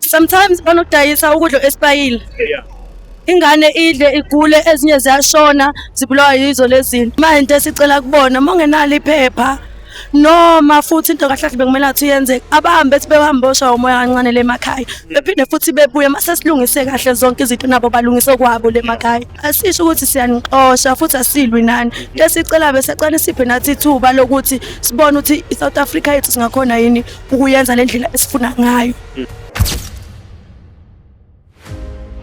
sometimes banokudayisa ukudla esipayile ingane idle igule ezinye ziyashona zibulawa yizo lezinto manje into esicela kubona uma ungenalo iphepha noma futhi into kahle kahle bekumele athi yenzeke abahambe ethi behambe osha umoya kancane lemakhaya bephinde futhi bebuye mase silungise kahle zonke izinto nabo balungise kwabo lemakhaya asisho ukuthi siyanixosha futhi asilwi nani into esicela besecane siphe nathi ithuba lokuthi sibone ukuthi i-south africa yethu singakhona yini ukuyenza le ndlela esifuna ngayo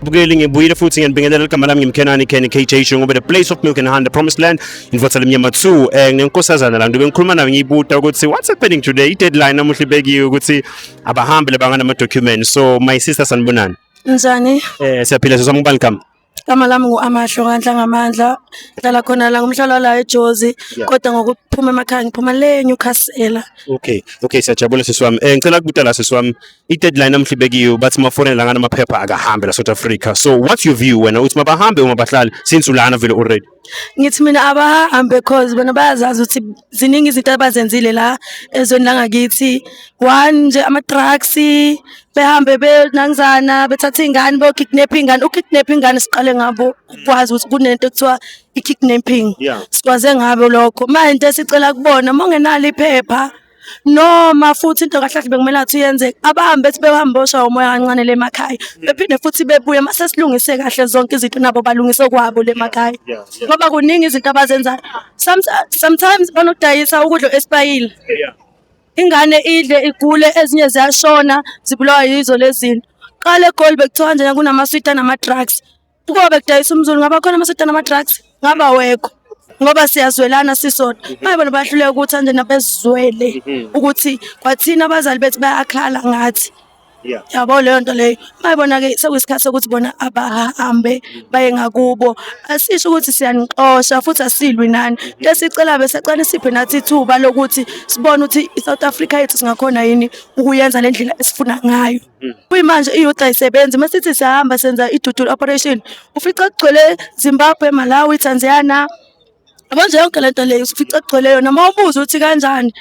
bukeli ngibuyile futhi ngiyanibingelela igama lami ngimkhenani Ken KJ Shungobe the place of milk and honey the promised land invothela emnyama 2 eh ngenkosazana la ngibe ngikhuluma nayo ngiyibuta ukuthi what's happening today i deadline namuhla ibekiwe ukuthi abahambi labangana ama documents so my sister sanibonani njani eh siyaphila sesomubani gama Igama lami ngu-Amahlo kaNhlangamandla, ngihlala khona la ngumhlala la eJozi Yeah. kodwa ngokuphuma emakhaya ngiphuma le eNewcastle. Okay, okay siyajabula sisi wami. Eh ngicela kubuta la sisi wami. I-deadline namuhla ibekiwe bathi mafonela lana amaphepha akahambe la South Africa. So what's your view wena uthi mabahambe uma bahlali since ulana vele already? ngithi mina abahambe cause bona bayazazi ukuthi ziningi izinto abazenzile la ezweni langakithi one nje ama-drugs behambe benangizana bethatha iy'ngane beyokidnapha iy'ngane ukidnapha iy'ngane siqale ngabo ukwazi ukuthi kunento ekuthiwa i-kidnapping sikwaze ngabo lokho manje into esicela kubona uma ungenalo iphepha noma futhi into kahle kahle bekumele athi uyenzeka abahambe ethi behambe oshawa umoya kancane le makhaya bephinde futhi bebuye mase silungise kahle zonke izinto nabo balungise kwabo le makhaya ngoba kuningi izinto abazenzayo sometimes banodayisa ukudla esibayile ingane idle igule ezinye ziyashona zibulawa yizo lezinto qale egoli bekuthiwa njena kunamaswidi anama-drugs Ukuba bekudayisa umzulu ngaba khona amasetana ama-drugs ngaba wekho ngoba siyazwelana sisona baye bona bahluleka ukuthi anje nabezizwele mhm. ukuthi kwathina abazali bethu bayakhala ngathi yabo leyo nto leyo bayibona-ke sekuyisikhathi sokuthi bona abahambe baye ngakubo asisho ukuthi siyanixosha futhi asilwi nani into esicela besacane siphe nathi ithuba lokuthi sibone ukuthi i-south africa yethu singakhona yini ukuyenza le ndlela esifuna ngayo Mm. Kuyimanje i-youth ayisebenzi uma sithi sihamba senza i-dual operation ufica kugcwele Zimbabwe, Malawi, Tanzania yabo nje yonke lento leyo ufica kugcwele yona uma ubuza ukuthi kanjani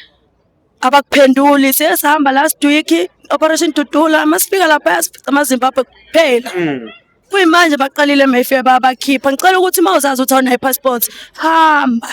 abakuphenduli siye sihamba last week operation dudula uma sifika lapha sifica amazimbabwe kuphela mm. kuyimanje baqalile mayfair babakhipha ngicela ukuthi uma uzazi ukuthi awunayo i-passport hamba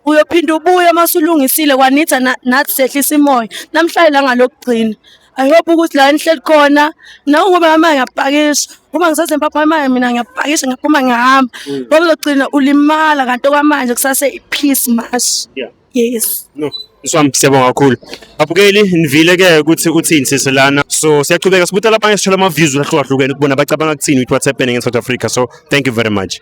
uyophinda ubuye uma usulungisile kwanitha na- nathi sehlisa imoya namhlanje la ngalokugcina i hope ukuthi la nihleli khona nawe ngoba mama ngiyapakisha uma ngisaze mpapha imali mina ngiyapakisha ngiyaphuma ngihamba ngoba uzogcina ulimala kanti okwamanje kusase i-peace march Yeah. yes no Swami siyabonga kakhulu. Abukeli nivile ke ukuthi uthini sisi lana. So siyachubeka sibuta labanye sithola ama views ahlukahlukene ukubona bacabanga ukuthini with what's happening in South Africa. So thank you very much.